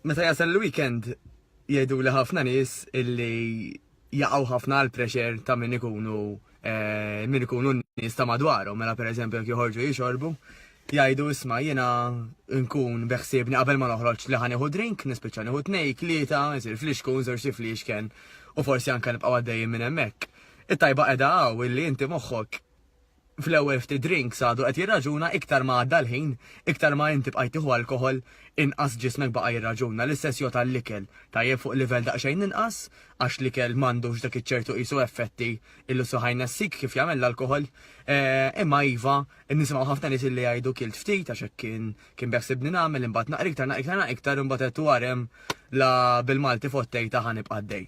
Meta jasal l-weekend jgħidu li ħafna nies illi jaqgħu ħafna għal pressure ta' min ikunu eh, min ikunu nies ta' madwarhom, mela pereżempju jekk joħorġu jixorbu, jgħidu isma' jiena nkun beħsiebni qabel ma noħroġ li ħanieħu drink, nispiċċa nieħu tnej, tlieta, isir flixkun, żewġ flixken u forsi anke nibqgħu għaddejjin minn hemmhekk. It-tajba qiegħda hawn illi inti moħħok fl-ewwel ftit drinks għadu qed jirraġuna iktar ma għadda l-ħin, iktar ma inti bqajt tieħu alkoħol, inqas ġismek baqa' jirraġuna, l-istess jgħodd għall-ikel, tajjeb fuq livell daqsxejn inqas, għax l-ikel m'għandux dak iċ-ċertu qisu effetti illi suħ jnessik kif jagħmel l-alkoħol. Imma iva, nisimgħu ħafna nies illi jgħidu kilt ftit għax hekk kien kien beħsibni nagħmel imbagħad naqra iktar naqra iktar imbagħad għedt u għarem la bil-Malti fottejtha ħa nibqa' għaddej.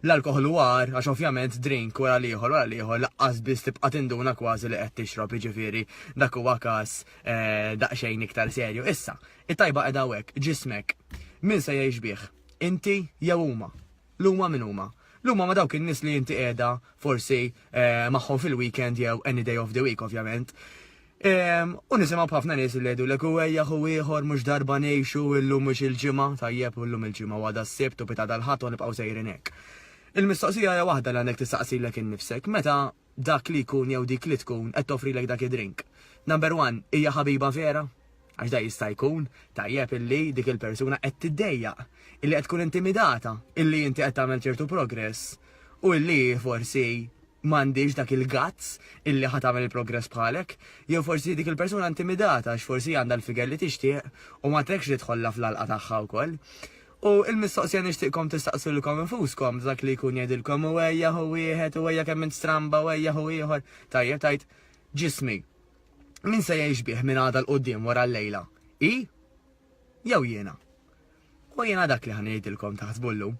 L-alkoħol hu agħar għax ovvjament drink wara l-ieħor wara l-ieħor laqqas biss tibqa' tinduna kważi li qed tixrob, jiġifieri dak huwa każ daqsxejn iktar serju. Issa, it-tajba qiegħda hawnhekk, ġismek. Min se jgħix bih? Inti jew huma? L-huma min huma? L-huma huma dawk in-nies li inti qiegħda forsi magħhom fil-weekend jew any day of the week ovvjament. U nisimgħu b'ħafna nies li jgħidu lek huwejja hu ieħor mhux darba ngħixu illum mhux il-ġimgħa, tajjeb u llum il-ġimgħa u għada s-Sibt u pita dal-Ħadd u nibqgħu sejrin hekk. Il-mistoqsija hija waħda li għandek tistaqsilek innifsek, meta dak li jkun jew dik li tkun qed toffrilek dak id-drink, number one, hija ħabiba vera? Għax dan jista' jkun, tajjeb illi dik il-persuna qed tiddejjaq, illi qed tkun intimidata, illi inti qed tagħmel ċertu progress u illi hi forsi m'għandhiex dak il-guts illi ħa tagħmel il-progress bħalek, jew forsi dik il-persuna intimidata għax forsi għandha l-figure li tixtieq u ma trekx li tħollha fl-għalqa tagħha wkoll. U l-mistoqsija nixtieqkom tistaqsulkom infuskom dak li jkun jgħidilkom u ejja hu wieħed u ejja kemm int stramba u ejja hu ieħor. Tajjeb tajt ġismi. Min se jgħix bih minn għada l-qoddim wara l-lejla? I? Jew jiena? U jiena dak li ħanidilkom taħsbu llum.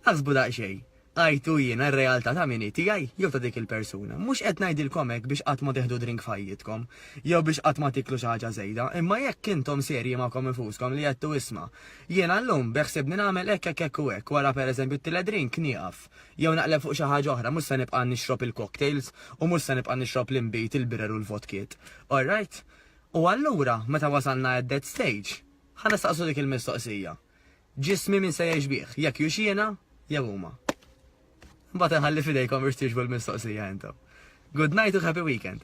Aħsbu daqsxejn. Għajtu jiena r-realtà ta' min tiegħi jew ta' dik il-persuna. Mhux qed ngħidilkom hekk biex qatt ma teħdu drink f'ħajjitkom, jew biex qatt ma tiklu xi ħaġa żejda, imma jekk intom serji magħkom infuskom li għedtu isma', jiena llum beħsibni nagħmel hekk hekk hekk u hekk, wara pereżempju t-tielet drink nieqaf. Jew naqleb fuq xi ħaġa oħra, mhux se nibqa' nixrob il-cocktails u mhux se nibqa' nixrob l-inbid, il-birer u l-vodkiet. Alright? U allura, meta wasalna at that stage, ħa nistaqsu dik il-mistoqsija, Ġismi min se jgħix bih, jekk hux jiena jew huma? Imbagħad inħalli f'idejkom biex twieġbu l-mistoqsija intom. Good night u happy weekend!